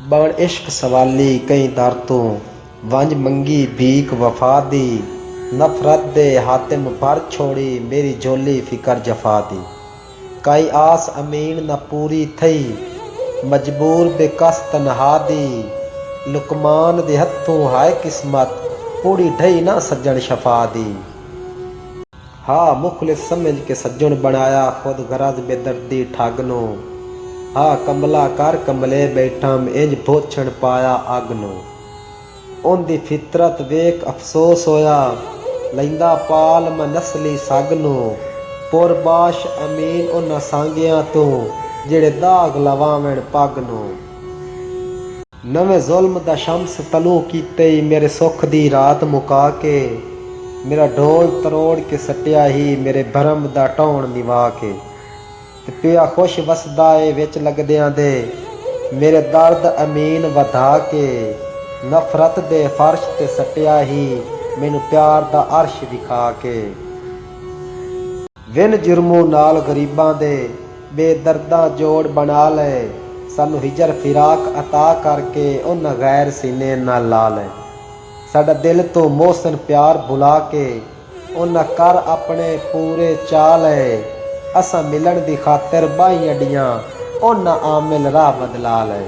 بݨ عشق سوالی کئیں در توں ونڄ منگی بھیک وفا دی نفرت دے حاتم بھر چھوڑی میݙی جھولی فکر جفا دی کائی آس امین نہ پوری تھئی مجبور بے کس تنہا دی لقمان دے ہتھوں ہائے قسمت پوڑی ڈھئی نہ سڄݨ شفا دی۔ ہا مخلص سمجھ کے سجݨ بݨایا خود غرض بے دردی ٹھڳ نو ہا کملا کر کملے ٻیٹھم انج بھوچھݨ پایا اڳ نو اوندی فطرت ویکھ افسوس ہویا لیندا پال میں نسلی سڳ نو پر باش امین انہاں سانگیاں توں جیڑھے داغ لواوݨ پڳ نو۔ نویں ظلم دا شمس طلوع کیتے ای میرے سکھ دی رات مکا کے میرا ڈھول تروڑ کے سٹیا ہی میرے بھرم دا ٹہنڑ نوا کے تے پیا خوش وسدا اے وچ لگدیاں دے میرے درد امین ودھا کے نفرت دے فرش تے سٹیا ہی مینوں پیار دا عرش وکھا کے۔ ون جرموں نال غریباں دے بے درداں جوڑ بنا لیں سانوں ہجر فراق عطا کر کے انہاں غیر سینے نہ لا لیں ساڈا دل توں محسن پیار بھلا کے انہاں کر اپنے پورے چاہ لیں اساں ملن دی خاطر باہیں اڈیاں انہاں عامل راہ بدلا لیں۔